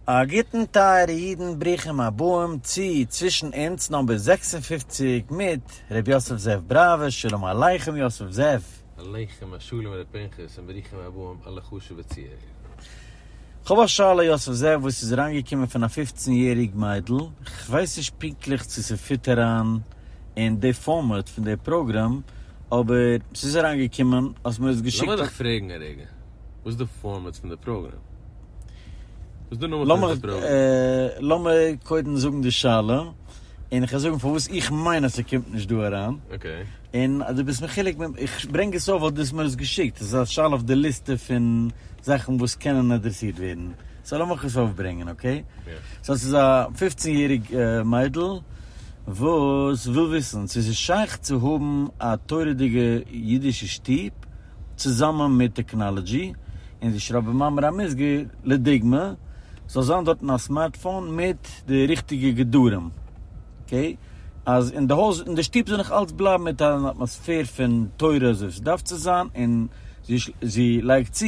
א גוטן טייערע אידן ברוכים הבאים צו צווישן אונז נאמבער זעקס און פֿופֿציק מיט ר' יוסף זאב בראווער שלום עליכם יוסף זאב. עליכם השלום ר' פנחס און ברוכים הבאים אלע חשובע צוהערער. כ'האב א שאלה יוסף זאב וואס איז אריינגעקומען פון א פופצן יעריג מיידל, כ'ווייס נישט פונקטליך צו ס'פיט אריין אין די פארמעט פון די פראגראם אבער ס'איז אריינגעקומען אז מ'האט עס געשיקט. לאמיר דיך פרעגן א רגע, וואס איז די פארמעט פון די פראגראם? לאמיר קודם זאגן די שאלה, און איך וועל זאגן פארוואס איך מיין אז ס'קומט נישט דא אריין, און אז דו ביסט מחולק מיט מיר, איך ברענג עס אויף ווייל דו האסט מיר עס געשיקט, עס איז א שאלה אויף די ליסטע פון זאכן וואס קענען אדרעסירט ווערן, סאו לאמיך עס אויפברענגען, אקעי? סאו ס'איז א פופצן יעריג מיידל וואס וויל וויסן צו ס'איז שייך צו האבן א תורה'דיגע אידישע שטוב, צוזאמען מיט טעקנאלעדזשי, און זי שרייבט במאמר המוסגר, לדוגמא, זאל זיין דארטן א סמארטפאון מיט די ריכטיגע גדרים, אקעי, אז אין די הויז, אין די שטוב זאל נאך אלץ בלייבן מיט אן אטמאספער פון תורה אזוי ס'דארף צו זיין, און זי לייגט צו,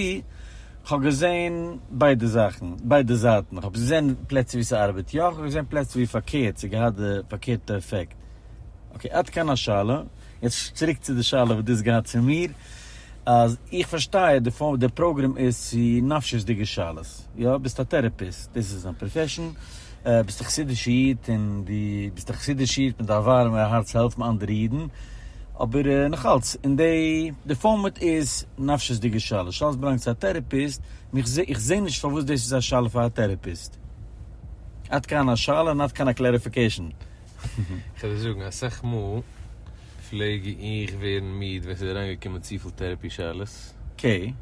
כ'האב געזען ביידע זאכן, ביידע זייטן, כ'האב געזען פלעצער ווי ס'ארבעט יא, כ'האב געזען פלעצער ווי פארקערט, ס'האט געהאט די פארקערטע עפעקט, אקעי, עד כאן השאלה. יעצט צוריק צו די שאלה וואס דו האסט געהאט צו מיר, אז איך פארשטיי די פארמעט, די פראגרעם איז צו נפשיות'דיגע שאלות, יא? ביסט א טערעפיסט, דאס איז דיין פראפעשן, ביסט א חסידישע איד און דו ביסט א חסידישע איד מיט א ווארעמע הארץ העלפן אנדערע אידן, אבער נאכאלץ אין די די פארמעט איז נפשיות'דיגע שאלות, שאלות באלאנגט צו א טערעפיסט, און איך זעה איך זעה נישט פארוואס דאס איז א שאלה פאר א טערעפיסט. עד כאן השאלה און עד כאן הקלעריפיקעישן. איך וועל דיר זאגן, אסאך מאל פלעג איך ווערן מיד ווען ס'איז אריינגעקומען צופיל טערעפי שאלות. קעי.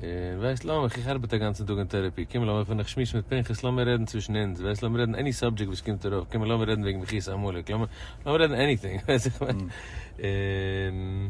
און ווייסט לאמיך, איך ארבעט א גאנצן טאג אין טערעפי, קום לאמיר ווען איך שמועס מיט פנחס לאמיר רעדן צווישן אונז, ווייסט לאמיר רעדן עני סאבדזשעקט וואס קומט ארויף, קום לאמיר רעדן וועגן מחיית עמלק, לאמיר רעדן עניטינג, ווייסט איך מיין. און.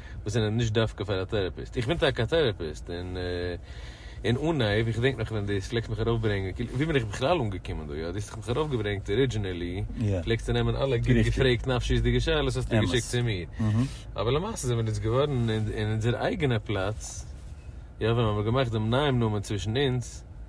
וואס זענען נישט דווקא פאר א טעראפיסט, איך בין טאקע א טעראפיסט, און אין אנהייב, איך געדענק נאך ווען דאס פלעגסט מיך ארויפברענגען, כאילו ווי בין איך בכלל אנגעקומען דא, יא, דו האסט מיך ארויפגעברענגט ארידזשינעלי, פלעגסטו נעמען אלע גוט געפרעגט נפשיות'דיגע שאלות האסטו געשיקט צו מיר, אבער למעשה זענען מיר אונז געווארן אין אונזער אייגענע פלאץ, יא, ווען מ'האמיר געמאכט דעם נייעם נאמען צווישן אונז,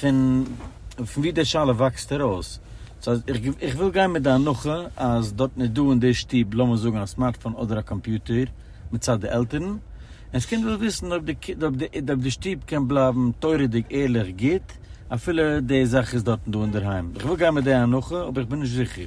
פון ווי די שאלה וואקסט ארויס. סאו אז איך איך וויל גיין מיט די הנחה אז דארטן איז דא אין די שטוב לאמיר זאגן א סמארטפאון אדער א קאמפיוטער מצד די עלטערן, און ס'קומט וויל וויסן אויב די קינד אויב די אויב די שטוב קען בלייבן תורה'דיג ערליך גוט אפילו די זאך איז דארטן דא אינדערהיים. איך וויל גיין מיט די הנחה אבער איך בין נישט זיכער.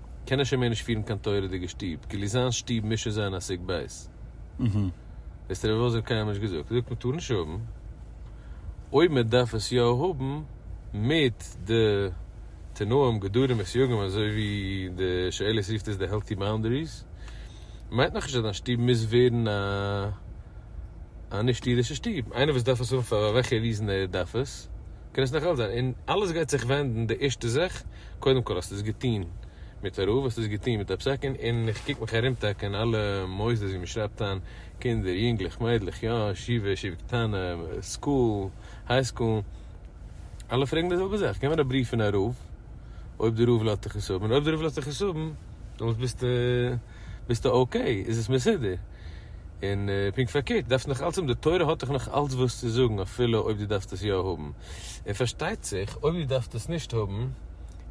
קען ער שוין מער נישט פירן קיין תורה'דיגע שטוב, כאילו זיין שטוב מוז שוין זיין א סוג ב'. דאס האט רבי וואלף זיך קיינמאל נישט געזאגט. ער זאגט מען טאר נישט האבן, אויב מען דארף עס יא האבן מיט די תנאים גדרים וסייגים אזוי ווי די שאלות רופט עס די העלטי באונדעריס, מיינט נאכנישט אז דיין שטוב מוז ווערן א נישט אידישע שטוב. איינער וואס דארף עס האבן פאר וועלכע ריזען ער דארף עס. קען עס נאך אלץ זיין, און אלעס גייט זיך ווענדן די ערשטע זאך, קודם כל האסט עס געטוהן מיט א רב, האסט עס געטוהן מיט א פסק, און און איך קוק מיך ארום טאקע אין אלע מוסדות ווי מען שרייבט איין קינדער, יונגלעך, מיידלעך, יא, ישיבה, ישיבה קטנה, סקול, היי סקול, אלע פרעגן די זעלבע זאך, געב מיר א בריוו פון א רב, אויב די רב לאזט דיך עס האבן, און אויב די רב לאזט דיך עס האבן, דעמאלטס ביסטו. ביסטו אוקעי, איז עס מסודר, און פונקט פארקערט דארפסטו נאך אלץ האבן, די תורה האט דיך נאך אלץ וואס צו זאגן אפילו אויב דו דארפסט עס יא האבן, און פארשטייט זיך אויב דו דארפסט עס נישט האבן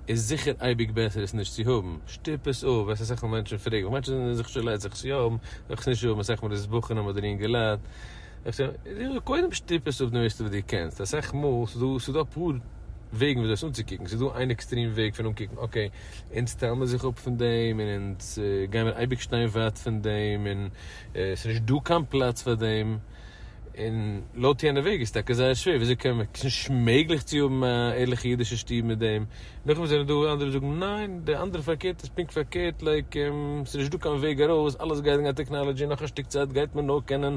איז זיכער אייביג בעסער עס נישט צו האבן, שטופ עס אפ, וועסט אסאך מאל מענטשן פרעגן, וואס מיינסטו זענען זיך שולע זיך עס יא האבן, זיך עס נישט האבן, אסאך מאל איז עס בחנם אדער אינגעלייט, קודם שטופ עס אפ די מערסטע וואס דו קענסט, אסאך מאל ס'איז דא אפאר וועגן וויאזוי עס אנצוקוקן, ס'איז דא איין עקסטרעם וועג פון אנקוקן אקעי. אונז טיילן מיר זיך אפ פון דעם און אונז גיימיר אייביג שטיין ווייט פון דעם און עס איז נישט דא קיין פלאץ פאר דעם און לויט יענע וועג איז טאקע זייער שווער וויאזוי קען מען עס איז נישט מעגליך צו האבן א ערליכע אידישע שטוב מיט דעם נאכדעם זענען דא אנדערע זאגן ניין די אנדערע פארקערט איז פונקט פארקערט לייק עס איז נישט דא קיין וועג ארויס אלעס גייט וועגן א טעקנאלעדזשי נאך א שטיק צייט גייט מען נאר קענען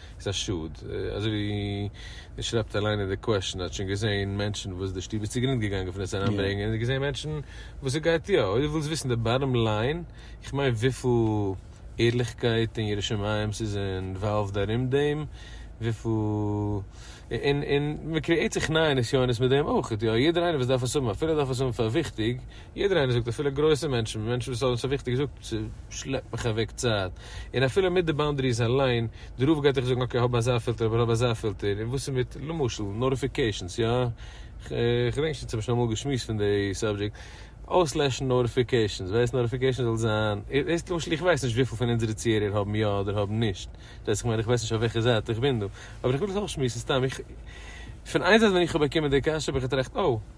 איז א שאד. אזוי ווי דו שרייבט אליין אין די קוועשאן, האט שוין געזעהן מענטשן וואס די שטוב איז צוגרינד געגאנגען פון עס אריינברענגען, און געזעהן מענטשן וואס עס גייט יא. אויב דו ווילסט וויסן די באטאם ליין, איך מיין וויפיל ערליכקייט און יראת שמים ס'איז אינוואלווד ארום דעם, וויפיל. און מ'קריעט זיך נייע נסיונות מיט דעם אויך, יא, יעדער איינער וואס דארף עס האבן, אפילו ער דארף עס האבן פאר וויכטיג, יעדער איינער זאגט אפילו גרויסע מענטשן, מענטשן וואס האבן עס פאר וויכטיג געזאגט, ס'שלעפט מיך אוועק צייט, און אפילו מיט די באנדעריס אליין, די רוב גייט דיך זאגן אקעי האב אזא פילטער אבער האב אזא פילטער, און וואס איז מיט, למשל, נאוטיפיקעישאנס, יא? כ'געדענק נישט צו האבן שוין אמאל געשמועסט פון די סאבדזשעקט, אויסלעשן נאוטיפיקעישאנס, ווייסט נאוטיפיקעישאנס זאל זיין, דאס למשל איך ווייס נישט וויפיל פון אונזערע צוהערער האבן יא אדער האבן נישט דאס, כ'מיין איך ווייס נישט אויף וועלכע זייט איך בין דא, אבער איך וויל עס אויסשמועסן סתם, איך, פון איין זייט ווען איך האב באקומען די קשיא האב איך געטראכט, אוי.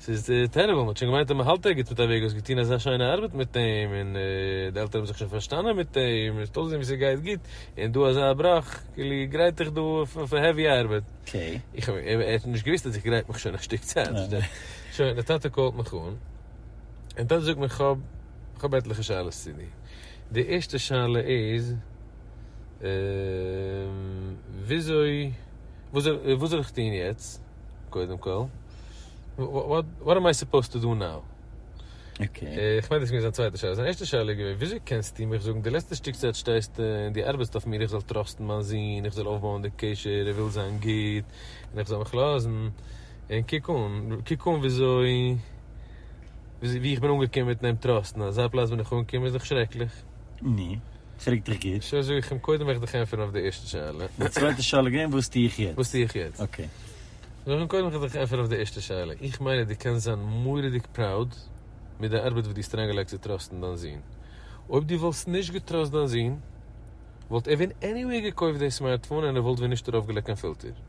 ס'איז טערעבל, מ'האט שוין געמיינט אז מ'האלט ערגעץ מיט א וועג, האסט געטון אזא שיינע ארבעט מיט אים, און די עלטערן האבן זיך שוין פארשטאנען מיט אים, און ס'האט אויסגעזען ווי ס'גייט גוט, און דא אזא בראך, כאילו איר גרייט אייך דא פאר העווי ארבעט. איך האב אים, ער האט נישט געוואוסט אז איך גרייט מיך שוין א שטיק צייט, פארשטייט. שוין, די טאטע קאלט מיך אן, און די טאטע זאגט מיר כ'האב, כ'האב עטליכע שאלות צו דיר. די ערשטע שאלה איז, וויאזוי, וואס זאל איך טון יעצט? קודם כל, וואט עם איי סופאוזד טו דא נאו? אקעי. איך מיין דאס איז געווען זיין צווייטע שאלה. זיין ערשטע שאלה איז געווען, וויאזוי קענסטו מיך זאגן, די לעצטע שטיק צייט שטייסטו און דו ארבעטסט אויף מיר איך זאל טראסטן מיין זון, איך זאל אויפבויען די קשר, איך וויל זיין גוט, און איך זאל מיך לאזן, און קוק אן, קוק אן וויאזוי, ווי איך בין אנגעקומען מיטן אים טראסטן, אזא פלאץ בין איך אנגעקומען איז דאך שרעקליך. נו. פרעג דיך גוט. שוין זאג איך אים קודם וועל איך דיך ענטפערן אויף די ערשטע שאלה. די צווייטע שאלה איז געווען וואס טו איך יעצט. וואס טו איך יעצט. אקעי. זאג איך אים קודם וועל איך דיך ענטפערן אויף די ערשטע שאלה. איך מיין אז דו קענסט זיין מורא'דיג פראוד מיט די ארבעט וואס דו האסט אריינגעלייגט צו טראסטן דיין זון. אויב דו וואלסט נישט געטראסט דיין זון וואלט ער ווען עניוועי געקויפט די סמארטפאון און ער וואלט ווען נישט ארויפגעלייגט קיין פילטער.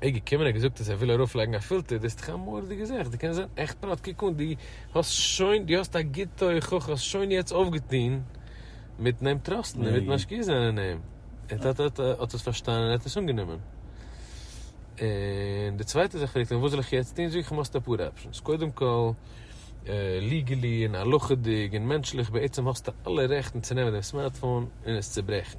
ער געקומען ער געזאגט אז ער וויל ארויף לייגן א פילטער די האסט דאך א מורא'דיגע זעך די קענסט זען עכט פראט קוק אן די האסט שוין די האסט א גוטע הוכחה האסט שוין יעצט אויפגעטון מיטן אים טראסטן און מיט משקיע זיין אין אים ער האט האט האט עס פארשטאנען ער האט עס אנגענומען און די צווייטע זאך פרעגט ער וואס זאל איך יעצט טון זאג איך אים האסט אפאר אפשענס קודם כל ליגעלי און הלכה'דיג און מענטשליך בעצם האסטו אלע רעכטן צו נעמען דעם סמארטפאון און עס צוברעכן.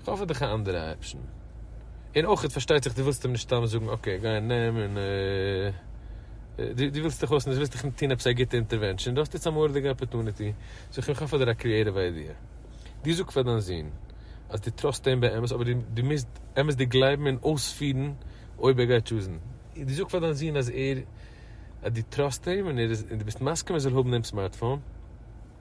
איך האף האט דיך א אנדערע אפשן. און אויכעט פארשטייט זיך די ווילסט אים נישט סתם זאגן אקעי גיי און נעם און די די ווילסט דיך אויס נישט ווילסט דיך טון עפעס א גוטע אינטערווענשאן דו האסט יעצט א מורא'דיגע אפערטוניטי זאג איך אים איך האף האט דיר א קריעטיוו איידיע דו זאג פאר דיין זון אז דו טראסט אים באמת אבער דו מוזט אמת'דיג גלייבן און אויספירן אויב ער גייט טשוזן דו זאג פאר דיין זון אז ער אז דו טראסט אים און ער איז און דו ביסט מסכים ער זאל האבן דעם סמארטפאון.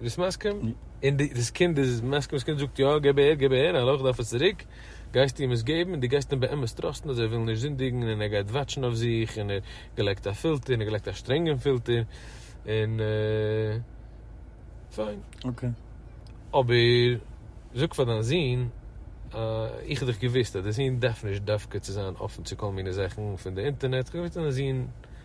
ביסט מסכים? און דאס קינד איז מסכים, דאס קינד זאגט יא, געב אהער, געב אהער, האלא איך דארף עס צוריק, גייסטו אים עס געבן און דו גייסט אים באמת טראסטן אז ער וויל נישט זינדיגן און ער גייט וואטשן אויף זיך און ער געלייגט א פילטער און ער געלייגט א שטרענגן פילטער און פיין. אקעי. אבער זאג פאר דיין זון איך האב דאך געוואוסט אז די זון דארף נישט דווקא צו זיין אפן צו כל מיני זאכן פון די אינטערנעט, איך האב געוואוסט אז דיין זון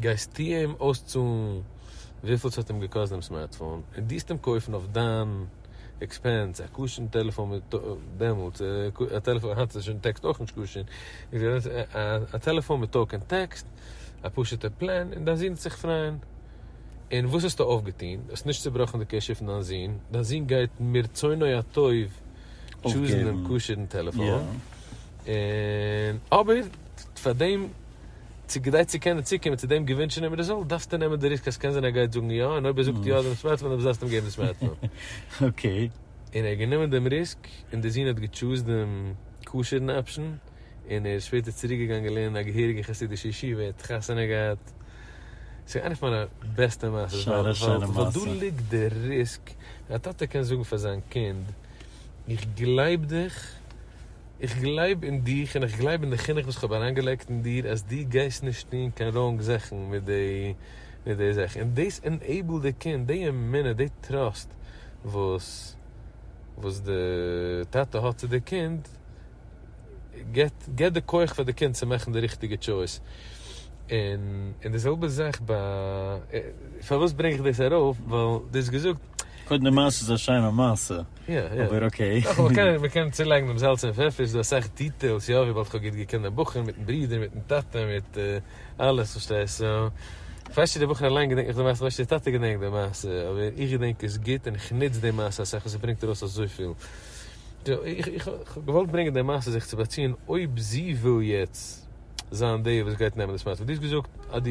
גייסטו אים אויסצאלן וויפיל ס'האט אים געקאסט דעם סמארטפאון, און טוסט אים קויפן אויף דיין עקספענס א כשר'ן טעלעפאן מיט דעמאלטס א טעלעפאן, היינט איז שוין טעקסט אויך נישט כשר, א טעלעפאן מיט טאלק און טעקסט, א פשוט'ע פלען, און דיין זון וועט זיך פרייען. און וואס האסטו אויפגעטון? האסט נישט צובראכן די קשר פון דיין זון, דיין זון גייט מרצונו הטוב טשוזן דעם כשר'ן טעלעפאן, און אבער פאר דעם צו כדי צו קענען צוקומען צו דעם געווינטשענעם רעזולט דארפסטו נעמען די ריסק אז ס'קען זיין ער גייט זאגן יא און אויב ער זאגט יא דעם סמארטפאון דארפסטו זאלסטו אים געבן די סמארטפאון. אקעי. און ער האט גענומען דעם ריסק און די זון האט געטשוזד דעם כשר'ן אפשן און ער איז שפעטער צוריק געגאנגען לערנען אין א געהעריגע חסידישע ישיבה ער האט חתונה געהאט ס'איז איינע פון מיינע בעסטע מעשות ווייל דא ליגט די ריסק א טאטע קען זאגן פאר זיין קינד איך גלייב דיך איך גלייב אין דיך און איך גלייב אין די חינוך וואס כ'האב אריינגעלייגט אין דיר אז דו גייסט נישט טון קיין ראונג זאכן מיט די זאך און דאס ענעיבלט די קינד די אמונה די טראסט וואס די טאטע האט צו די קינד געבט די כח פאר די קינד צו מאכן די ריכטיגע טשויס און די זעלבע זאך ביי פארוואס ברענג איך דאס ארויף ווייל די האסט געזאגט. קודם די מעשה איז א שיינע מעשה. אבער אקעי. מען קען צולייגן דעם זאלץ און פעפער, ס'איז דא אסאך דיטעילס, יא, ווי באלד כ'האב גוט געקענט דעם בחור מיטן ברודער מיטן טאטע מיט אלעס פארשטייסטו, כ'ווייס נישט דער בחור אליין געדענקט נאך די מעשה, כ'ווייס נישט דער טאטע געדענקט די מעשה, אבער איך געדענק עס גוט און כ'נוץ די מעשה אסאך און ס'ברענגט ארויס אזויפיל. איך האב געוואלט ברענגען די מעשה זיך צו באציען אויב זי וויל יעצט זיין די וואס גייט נעמען דאס מצב, דו האסט געזאגט אז דו.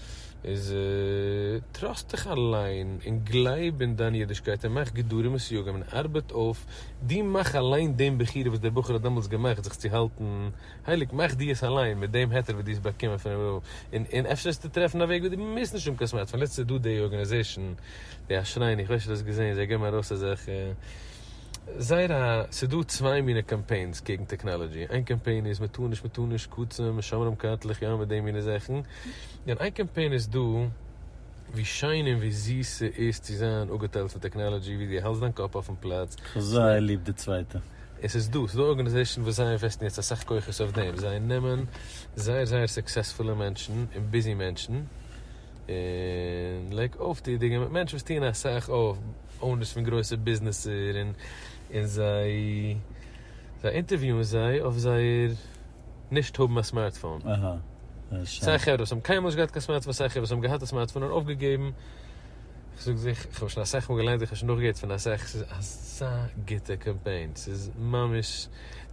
איז טראסט דיך אליין און גלייב אין דיין אידישקייט און מאך גדרים וסייגים און ארבעט אויף די מאך אליין דעם בחירה וואס דער בחור האט דעמאלטס געמאכט זיך צו האלטן הייליג מאך דו עס אליין מיט דעם היתר וואס דו האסט באקומען פון רבי'ן און און אפשר וועסטו טרעפן א וועג וואס דו מוזט נישט האבן קיין סמארטפאון לעצטענס איז דא די ארגענעזעישן די אשרינו איך ווייס נישט אויב דו האסט געזען זיי געבן ארויס אזעלכע זייער א ס'איז דא צוויי מינע קאמפיינס קעגן טעקנאלאדזשי איין קאמפיין איז מען טאר נישט מען טאר נישט קוצים שומרים קארטלעך יא מיט די מינע זאכן. און איין קאמפיין איז דא ווי שיין און ווי זיס ס'איז צו זיין אפגעטיילט פון טעקנאלעדזשי ווי דו האלסט דיין קאפ אויפן פלאץ. כ'האב זייער ליב די צווייטע. און ס'איז דא, ס'איז דא ארגאניזעישאן וואס זיי אינוועסטן יעצט אסאך כוחות אויף דעם, זיי נעמען זייער זייער סוקסעספולע מענטשן און ביזי מענטשן, און לייג אויף די דיגע מענטשן וואס טוען אסאך אויף, אונערס פון גרויסע ביזנעסער, און זיי אינטערוויוען זיי אויף זייער. נישט האבן א סמארטפאון. סיי חברה וואס האבן קיינמאל נישט געהאט קיין סמארטפאון סיי חברה וואס האבן געהאט א סמארטפאון און אויפגעגעבן. איך זאג זיך, איך האב עס שוין אסאך מאל געליינט, איך האב שוין נאכגעהערט פון אסאך, ס'איז אזא גוטע קאמפיין, ס'איז ממש,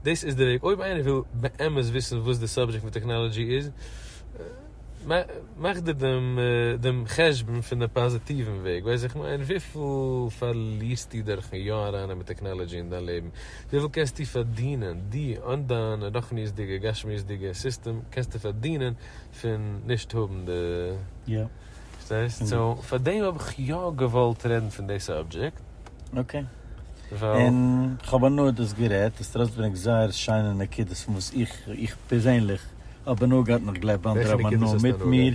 דאס איז די וועג, אויב איינער וויל באמת וויסן וואס די סאבדזשעקט פון טעכנאלאדזשי איז, מאך דיר דעם חשבון פון די פאזיטיוון וועג, ווייס איך מיין, וויפיל פארלירסטו דורכן יא ארייננעמען טעכנאלאדזשי אין דיין לעבן? וויפיל קענסטו פארדינען? דו אן דיין רוחניות'דיגע גשמיות'דיגע סיסטעם קענסטו פארדינען פון נישט האבן די. יא. פארשטייסט? סאו פאר דעם האב איך יא געוואלט רעדן פון די סאבדזשעקט. אקעי. ווייל. און כ'האב הנאה דאס גערעדט, עס טראסטברענגט זייער שיינע נקודות פון וואס איך איך פערזענליך האב הנאה געהאט און איך גלייב אנדערע האבן הנאה מיט מיר.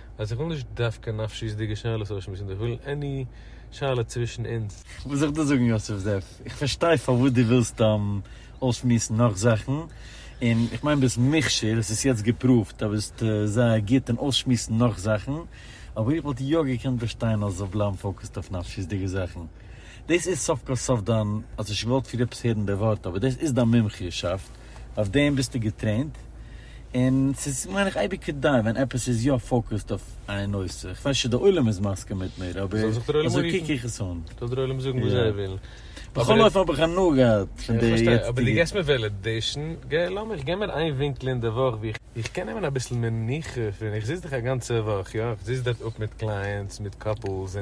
אז איך וויל נישט דווקא נפשיות'דיגע שאלות אויסשמועסן, איך וויל עני שאלה צווישן אונז. כ'מוז זיך דא זאגן יוסף זאב, איך פארשטיי פארוואס דו ווילסט אויסשמועסן נאך זאכן, און איך מיין ביסט מוכשר, עס איז יעצט געפראווט אז ביסט זייער גוט אין אויסשמועסן נאך זאכן, אבער איך וואלט יא געקענט באשטיין אז זאלסט בלייבן פאוקעסד אויף נפשיות'דיגע זאכן. דאס איז סוף כל סוף דיין, האסט נישט געוואלט פריער עפעס הערן די ווארט, אבער דאס איז דיין מומחיות'שאפט, אויף דעם ביסטו געטרעינט, און ס'איז מיין איך אייביג כדאי ווען עפעס איז יא פאוקעסד אויף איין נושא, איך ווייס נישט צו דער עולם איז מסכים מיט מיר, אבער אזוי קוק איך עס אן. זאל דער עולם זאגן וואס זיי ווילן. בכל אופן האב איך הנאה געהאט פון די יעצטיגע. אבער דו געבסט מיר וועלעדעישן, געב, לאמיר, געב מיר איין ווינקל אין די וואך ווי איך קען נעמען אביסל מנוחה פון, איך זיץ דאך א גאנצע וואך, יא, איך זיץ דארט אפ מיט קלייענטס, מיט קאפלס,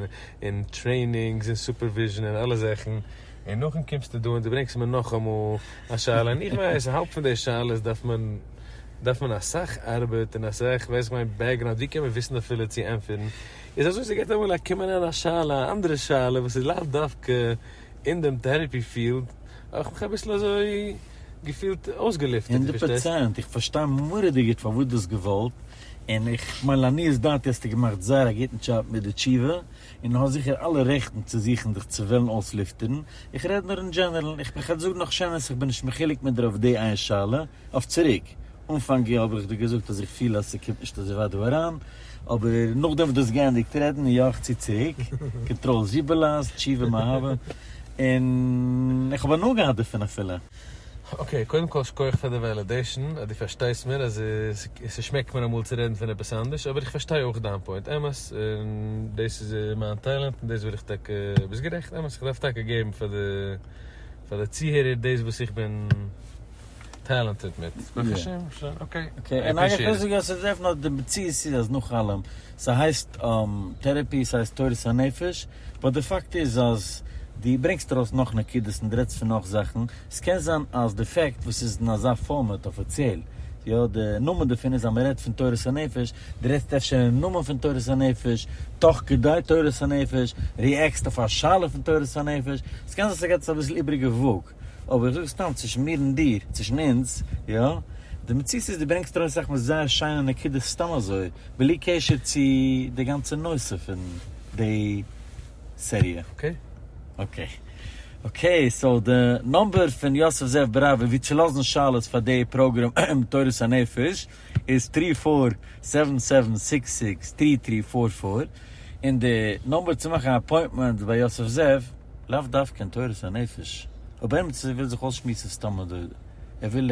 און טרעינינגס, און סופערוויזשן, און אלע זאכן. און נאכדעם קומסטו דא און דו ברענגסט מיר נאכאמאל א שאלה, און איך ווייס אז האלב פון די שאלות דארף מען דארף מען אסאך ארבעט און אסאך ווייס איך מיין בעקגראונד ווי קען מען וויסן אפילו צו ענטפערן, איז אזוי ס'גייט אמאל א קומען אריין א שאלה א אנדערע שאלה וואס איז לאו דווקא אין דעם טערעפי פיעלד, האב איך מיך אביסל אזוי געפילט אויסגעלופטערט, הונדערט פארשטייסט? פראצענט, איך פארשטיי מורא'דיג גוט פארוואס דו האסט געוואלט, און איך מיין לעניות דעתי האסטו געמאכט זייער א גוטן דזשאב מיט די תשובה, און האסט זיכער אלע רעכטן צו זוכן זיך צו וועלן אויסלופטערן, איך רעד נאר אין דזשענערל, איך בין כ'זאג נאך שנעל אז כ'בין נישט מחולק מיט דיר אויף די איין שאלה, אויף צוריק, אנפאנג יאר האב איך דיר געזאגט אז איך פיל אז ס'קומט נישט אזוי ווייט דא אריין, אבער נאכדעם וואס דו האסט געענדיגט רעדן און יא איך צו צוריק, קאנטראל זשיבעלאס, תשובה מאהבה, און איך האב הנאה געהאט דערפון אפילו. אקעי, קודם כל שכוח פאר די וועלעדעישן אז דו פארשטייסט מיר אז ס'שמעקט מיר אמאל צו רעדן פון עפעס אנדערש, אבער איך פארשטיי אויך דיין פוינט, אמת, און דאס איז מיין טעלענט און דאס וויל איך טאקע, ביסט גערעכט, אמת, איך דארף טאקע געבן פאר די פאר די צוהערער דאס וואס איך בין טעלענטעד מיט, ברוך השם, אקעי, אקעי, און איך וויל זאגן אז ס'איז דעפענעטלי די מציאות איז אז נאך אלעם. ס'הייסט טערעפי, ס'הייסט תורת הנפש, באט די פאקט איז אז דו ברענגסט ארויס נאך נקודות און דו רעדסט פון נאך זאכן, ס'קען זיין אז די פעקט וואס איז אין אזא פארמעט אפיציעל, יא, די נאמען דערפון איז אז מען רעדט פון תורת הנפש, דו רעדסט אפשר אין נאמען פון תורת הנפש, תוך כדי תורת הנפש, ריעקסט אויף א שאלה פון תורת הנפש, ס'קען זיין ס'געט עס אביסל איבריגע וואג, אבער איך זאג סתם צווישן מיר און דיר, צווישן אונז, יא, די מציאות איז דו ברענגסט ארויס זאכן וואס זייער שיינע נקודות סתם אזוי, בלי קשר צו די גאנצע נושא פון די סעריע. אקעי. אקעי. אקעי סאו די נאמבער פון יוסף זאב בראווער ווי צו לאזן שאלות פאר די פראגראם תורת הנפש איז טרי פאר סעווען סעווען סיקס סיקס טרי טרי פאר פאר און די נאמבער צו מאכן א אפוינטמענט ביי יוסף זאב לאו דווקא אין תורת הנפש אויב עימיצער וויל זיך אויסשמועסן סתם אזוי ער וויל.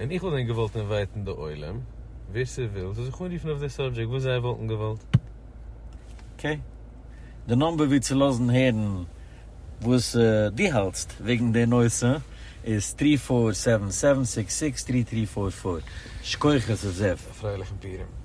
און איך וואלט ווען געוואלט אינווייטן די עולם, ווער ס'וויל זאל זיך אנרופן אויף די סאבדזשעקט וואס זיי וואלטן געוואלט. אקעי. די נומבער ווי צו לאזן הערן וואס דו האלטסט וועגן די נושא איז טרי פאר סעווען סעווען סיקס סיקס טרי טרי פאר פאר. שכויחעס זאב. א פרייליכן פורים.